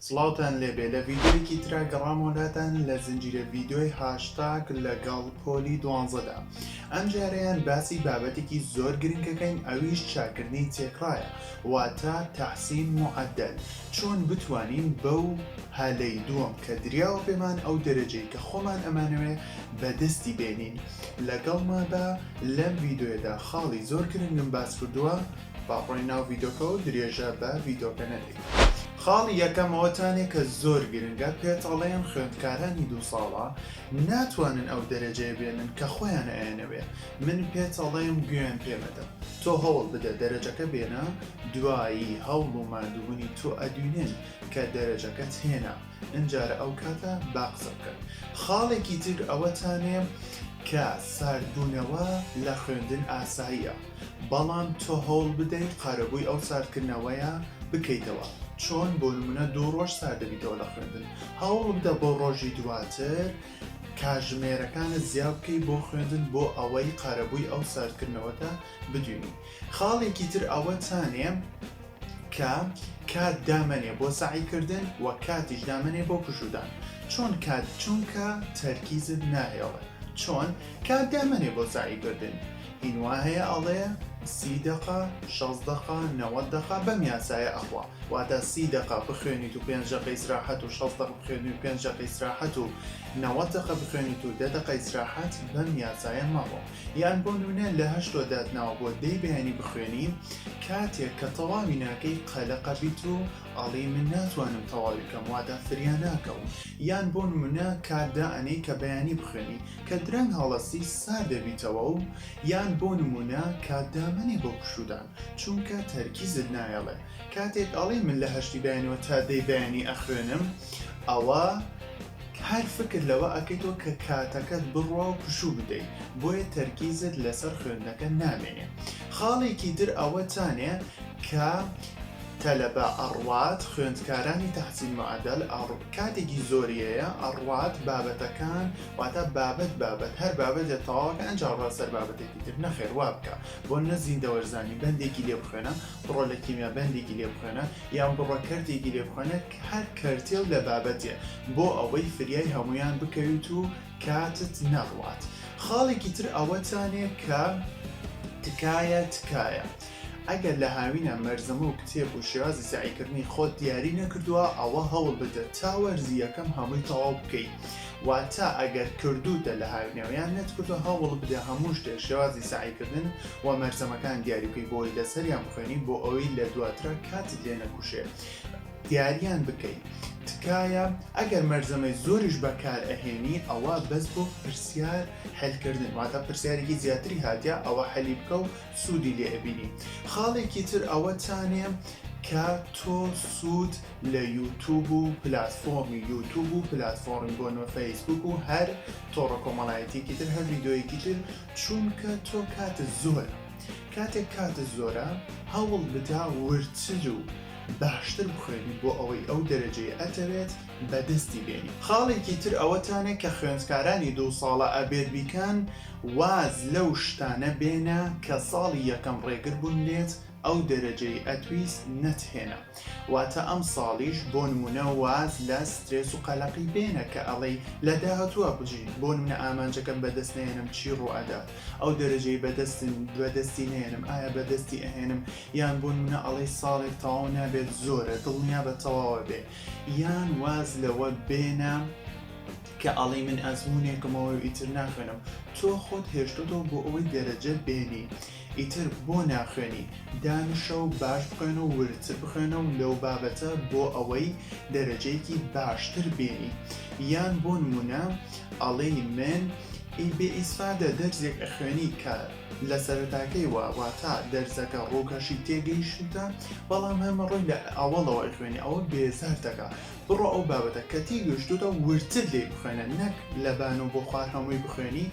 سڵاوتان لێبێ لە ڤیدیۆیەکی ترا گەڕامەوە لاتان لە زنجیرە ڤیدیۆی هاشتاگ لەگەڵ پۆلی دوانزەدا ئەم جارەیان باسی بابەتێکی زۆر گرنگەکەین ئەویش چاکردنی تێکڕایە واتە تەحسین معدل چۆن بتوانین بەو هەلەی دووەم کە دریاوە پێمان ئەو دەرەجەی کە خۆمان ئەمانەوێ بەدەستی بێنین لەگەڵ مابە لەم ڤیدیۆیەدا خاڵی زۆر گرنگم باس کردووە با بڕۆین ناو ڤیدۆکە و درێژە بە ڤیدۆکە نەدەین خاڵی یەکەمەوە تانێ کە زۆر گرنگە پێت ئەڵێن خوێندکارانی دوو ساڵە ناتوانن ئەو دەرەجەیە بێنن کە خۆیان ئەیانەوێ من پێت ئەڵێم گوێن پێمەدە تۆ هەوڵ بدە دەرەجەکە بێنە دوایی هەوڵ و مادوونی تۆ ئەدوینێن کە دەرەجەکەت هێنا ئەجارە ئەو کاتە با قسە بکەن خاڵێکی تر ئەوەتانێ کە ساردبوونەوە لە خوێندن ئاساییە بەڵام تۆ هەوڵ بدەیت قارەبووی ئەو ساردکردنەوەیە بکەیتەوە، چۆن؟ بۆ نموونە دوو ڕۆژ سارد دەبیتەوە لە خوێندن، هەوڵ بدە بۆ ڕۆژی دواتر کاژمێرەکانت زیا بکەیت بۆ خوێندن بۆ ئەوەی قارەبووی ئەو ساردکردنەوەتە بدوێنی. خاڵێکی تر ئەوەتانێ، کە کات دامەنێ بۆ سەعی کردن وە کاتیش دامەنێ بۆ پشودان چۆن کات چونکە تەرکیزت ناهێڵێ چۆن کات دامەنێ بۆ سەعی کردن هین وا هەیە ئەڵێ سی دەقە شەست دەقە نەوەد دەقە بەم یاسایە ئەخوا واتە سی دەقە بخوێنیت و پێنج دەقە ئیسراحەت و شەست دەقە بخوێنی و پێنج دەقە ئیسراحەت و نەوەد دەقە بخوێنیت و دە دەقە ئیسراحەت بەم یاسایە مەڕۆ یان بۆ نونە لە هەشتۆ دات ناوە بۆ دەی بەیانی بخوێنی کاتێک کە تەواوی ناکەی قەلەقە بیت و ئەڵی من ناتوانم تەواوی کەم واتا فریا ناکەوم یان بۆ نمونە کات دا ئەنەی کە بەیانی بخوێنی کە درەنگ هەڵەسی سار دەبیتەوە و یان بۆ نمونە کات دا مەنێ بۆ پشودان چونکە تەرکیزت نایەڵێ کاتێک ئەڵی من لە هەشتی بەیانەوە تا دەی بەیانی ئەخوێنم ئەوە هەر فکر لەوە ئەکەیتەوە کە کاتەکەت بڕوا و پشوو بدەی بۆیە تەرکیزت لەسەر خوێندنەکە نامێنێ خاڵێکی تر ئەوە تانێ کە تەلەبە ئەڕوات خوێندکارانی تەحسین معەدەل ئەڕ کاتێکی زۆریەیە ئەڕوات بابەتەکان واتا بابەت بابەت هەر بابەتێ تەواوەکە ئەنجا ڕات سەر بابەتێکی تر نەخێر وا بکە بۆ نە زیندەوەرزانی بەندێکی لێ بخوێنە بڕۆ لە کیمیا بەندێکی لێ بخوێنە یان بڕۆ کەرتێکی لێ بخوێنە هەر کەرتێ و لەبابەتێ بۆ ئەوەی فریای هەموویان بکەویت و کاتت نەڕوات خاڵێکی تر ئەوەتانێ کە تکایە تکایە ئەگەر لە هاوینە مەرزەمە و کتێب و شێوازی سەعیکردنی خۆت دیاری نەکردووە ئەوە هەوڵ بدە تا وەرزی یەکەم هەمووی تەواو بکەی واتا ئەگەر کردوتە لە هاوینەوەیان نەتکردو هەوڵ بدە هەموو شتێ شێوازی سەعیکردن و مەرزەمەکان دیاری بکەی بۆی لەسەریان بخوێنی بۆ ئەوەی لە دواترا کاتت لێ نەکوشێ دیاریان بکەی تکایە ئەگەر مەرزەمەی زۆریش بەکار ئەهێنی ئەوە بەس بۆ پرسیار حلکردن واتە پرسیارێکی زیاتری هاتە ئەوە حەلی بکە و سوودی لێ ئەبینی خاڵێکی تر ئەوە تانێ کە تۆ سوود لە یوتوب و پلتفۆمی یوتوب و پلتفۆڕی بۆ نۆ فەیسبوک و هەر تۆڕە کۆمەڵایەتێکی تر هەر یددیوەیەکی تر چونکە تۆ کاتە زۆر کاتێک کاتت زۆرە هەوڵ بدە وردتر و باشتر بخوێنیت بۆ ئەوەی ئەو دەرەجەی ئەتەوێت بەدەستی بێنیت. خاڵێکی تر ئەوەتانێ کە خوێندکارانی دوو ساڵە ئەبێت بیکەن واز لەو شتانە بێنە کە ساڵی یەکەم ڕێگر بوون لێت ئەو دەرەجەی ئەتویست نەتهێنا واتە ئەم ساڵیش بۆ نمونە واز لە سترێس و قەلەقی بێنە کە ئەڵێی لە داهاتووا بژیت بۆ نمونە ئامانجەکەم بەدەست نەیەنم چی ڕووئەدات ئەو دەرەجەی بەدەستن بەدەستی نەیەنم ئایا بەدەستی ئەهێنم یان بۆ نمونە ئەڵێی ساڵێک تەواو نابێت زۆرە دڵنیا بە تەواوە بێ یان واز لەوە بێنە کە ئەڵی من ئەزمونێکمەوە و ئیتر ناخوێنم تۆ خۆت هێشتۆتەوە بۆ ئەوەی دەرەجە بێنی ئیتر بۆ ناخوێنی دانیشە و باش بخوێنە و وردتر بخوێنە و لەو بابەتە بۆ ئەوەی دەرەجەیەکی باشتر بێنی یان بۆ نمونە ئەڵێی من ای بێ ئیسفادە دەرزێک ئەخوێنیت کە لە سەرەتاکەی وە واتا دەرزەکە ڕووکەشی تێگەیشتوتە بەڵام هەمە ڕووی لە ئەوەڵەوە ئەخوێنی ئەوە بێزار دەکا بڕۆ ئەو بابەتە کە تێگەشتوتە وردتر لێی بخوێنە نەک لە بان و بۆ خوار هەمووی بخوێنی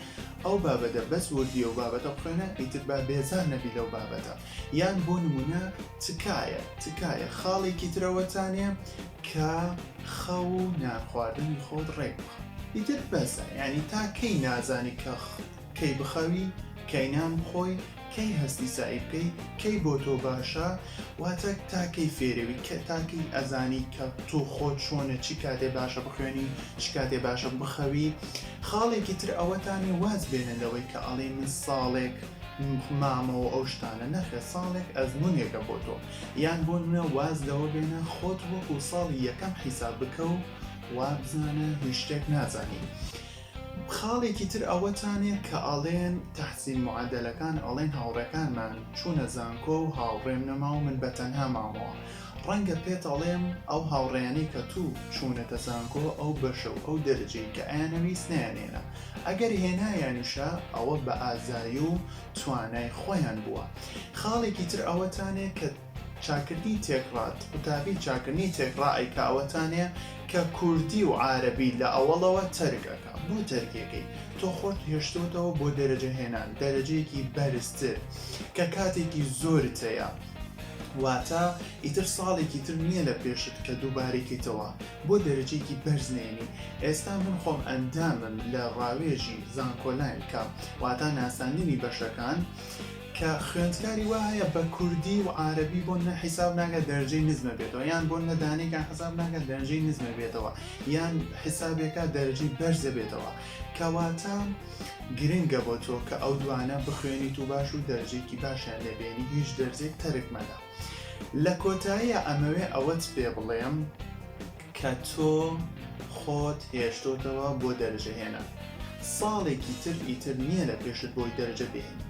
ئەو بابەتە بەس وردی ئەو بابەتە بخوێنە ئیتر با بێزار نەبی لەو بابەتە یان بۆ نمونە تکایە تکایە خاڵێکی ترەوەتانێ کە خەو و نان خواردنی خۆت ڕێک بخە ئیتر بەسە یانی تا کەی نازانی کە کەی بخەوی کەی نان بخۆی کەی هەستی سەعی بکەی کەی بۆ تۆ باشە واتە تا کەی فێرەوی کە تا کەی ئەزانی کە تۆ خۆت چۆنە چی کاتێ باشە بخوێنی چ کاتێ باشە بخەوی خاڵێکی تر ئەوەتانێ واز بێنە لەوەی کە ئەڵێی من ساڵێک مامەوە ئەو شتانە نەخێ ساڵێک ئەزمونێکە بۆ تۆ یان بۆ نمونە واز لەوە بێنە خۆت وەکو ساڵی یەکەم حیساب بکە و وابزانە هیچ شتێک نازانی. خاڵێکی تر ئەوەتانێ کە ئەڵێن تەحسین معادلەکان ئەڵێن هاوڕێکانمان چوونە زانکۆ و هاوڕێم نەما و من بەتەنها مامەوە ڕەنگە پێت ئەڵێم ئەو هاوڕێیانەی کە تو چوونەتە زانکۆ ئەو بەشە و ئەو دەرەجەی کە ئەیانەویست نەیانێنا ئەگەر هێنایانیشە ئەوە بە ئازایی و توانای خۆیان بووە خاڵێکی تر ئەوەتانێ کە چاکردنی تێکڕات قوتابی چاکردنی تێکڕا ئەیکا ئەوەتانێ کە کوردی و عارەبی لە ئەوەڵەوە تەرک ئەکا بۆ تەرکێکەی تۆ خۆت هێشتۆتەوە بۆ دەرەجە هێنان دەرەجەیەکی بەرزتر کە کاتێکی زۆرت هەیە واتە ئیتر ساڵێکی تر نییە لە پێشت کە دووبارەی کەیتەوە بۆ دەرەجەیەکی بەرز نێنی ئێستا من خۆم ئەندامم لە ڕاوێژی زانکۆلاین کە واتا ناساندنی بەشەکان کە خوێندکاری وا هەیە بە کوردی و عربی بۆ نە حیساب ناگە دەرجەی نزمە بێتەوە یان بۆ نەدانێکە حساب ناگە دەرجەی نزمە بێتەوە یان حسابێکە دەرجی بەرزە بێتەوە کەواتە گرنگە بۆ تۆ کە ئەو دوانە بخوێنیت و باش و دەرجێکی باشیان لێبێنی هیچ دەرجێک تەرک مەدە لە کۆتاییا ئەمەوێ ئەوەت پێ بڵێم کە تۆ خۆت هێشتۆتەوە بۆ دەرەجە هێنان ساڵێکی تر ئیتر نییە لە پێشت بۆی دەرەجە بێنی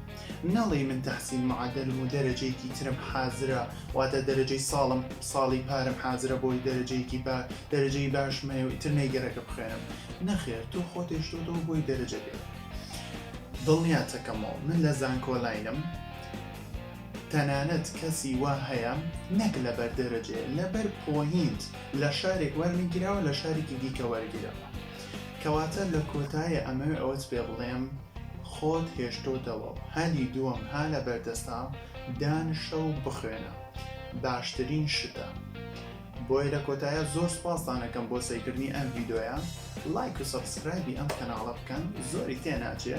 نەڵێی من تەحسین معەدەلم و دەرەجەیەکی ترم حازرە واتە دەرەجەی ساڵم ساڵی پارم حازرە بۆی دەرەجەیەکی با دەرەجەی باشم هەیە و ئیتر نەیگەرەکە بخوێنم نەخێر تۆ خۆت هێشتۆتەوە بۆی دەرەجە بێت دڵنیاتەکەمەوە من لە زانکۆلاینم تەنانەت کەسی وا هەیە نەک لەبەر دەرەجەیە لەبەر پۆینت لە شارێک وەرنەگیراوە لە شارێکی دیکە وەرگیراوە کەواتە لە کۆتایە ئەمەوێ ئەوەت پێ بڵێم خۆت هێشتۆتەوە و هەلی دووەم ها لە بەردەستا دانشە و بخوێنە باشترین شتە بۆیە لە کۆتایە زۆر سوپاستانەکەم بۆ سەیکردنی ئەم ڤیدۆیە لایک و سەبسکرایبی ئەم کەناڵە بکەن زۆری تێ ناچێ